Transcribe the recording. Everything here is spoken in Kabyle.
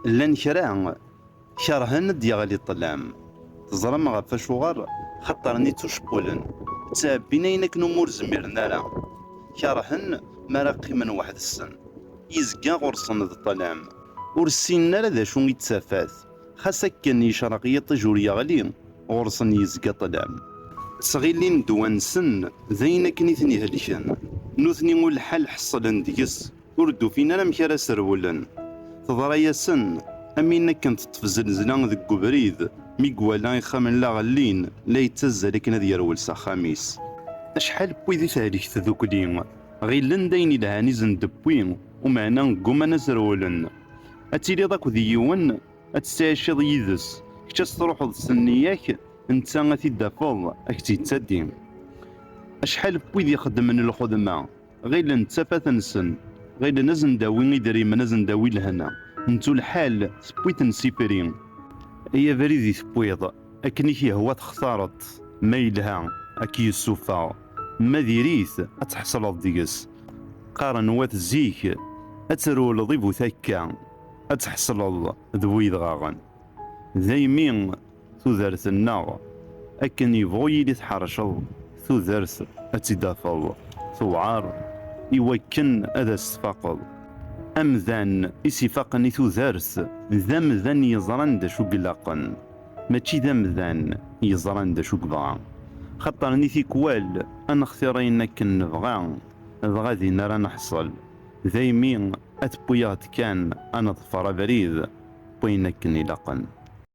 Llan kra kerhen ad d-yeɣli ṭṭlam. Teẓram ɣef acuɣer? Xaṭer-nni ttucewwilen, ttɛebbin ayen akken umi ur zmiren ara. Kerhen mi ara qqimen weḥd-sen. Yezga ɣur-sen d ṭṭlam. Ur ssinen ara d acu i d tafat. Xas akken yecreq yiṭij ur yeɣli, ɣur-sen yezga ṭṭlam. Ttɣilin ddwa-nsen d ayen akken i ten-ihelken. Nutni ur lḥal ḥeṣlen deg-s. Ur d-ufin ara amek ara serwlen. Teḍra-yasen am win akken teṭṭef zelzla deg ubrid, mi iwala ixxamen la ɣellin, la yettazzal akken ad yerwel s axxam-is. Acḥal n wid i tehlek tdukli, ɣillen d ayen ilhan i sen-d-tewwi, umeɛna gguman ad s-rewlen. Ad tiliḍ akked yiwen, ad tettɛiciḍ yid-s, kečč ad s-truḥeḍ s nniya-k, netta ad t-id-tafeḍ, a k-tt-yettaddi. Acḥal n wid ixeddmen lxedma. ɣilen d tafat-nsen, ɣilen ad sen-d-awi idrimen, ad sen-d-awi lehna, nettu lḥal tewwi-ten s ifri. Ay abrid i tewwiḍ, akken i k-yehwa textareḍ-t, ma yelha ad k-yessufeɣ, ma diri-t ad tḥesleḍ deg-s. Qqaren wat zik, ad trewleḍ i bu takka, ad tḥesleḍ d bu yedɣaɣen. Daymi. tudert-nneɣ, akken yebɣu yili tḥerceḍ tudert ad tt-id-tafeḍ tewɛer i wakken ad as-tfaqeḍ. Amdan i s-ifaqen i tudert d amdan yeẓran d acu ilaqen, mačči d amdan yeẓran d acu yebɣa. Xaṭer ni tikwal ad nextir ayen akken nebɣa dɣa din ara neḥṣel, daymi ad tewwi-aɣ-d kan ad neḍfer abrid n wayen akken ilaqen.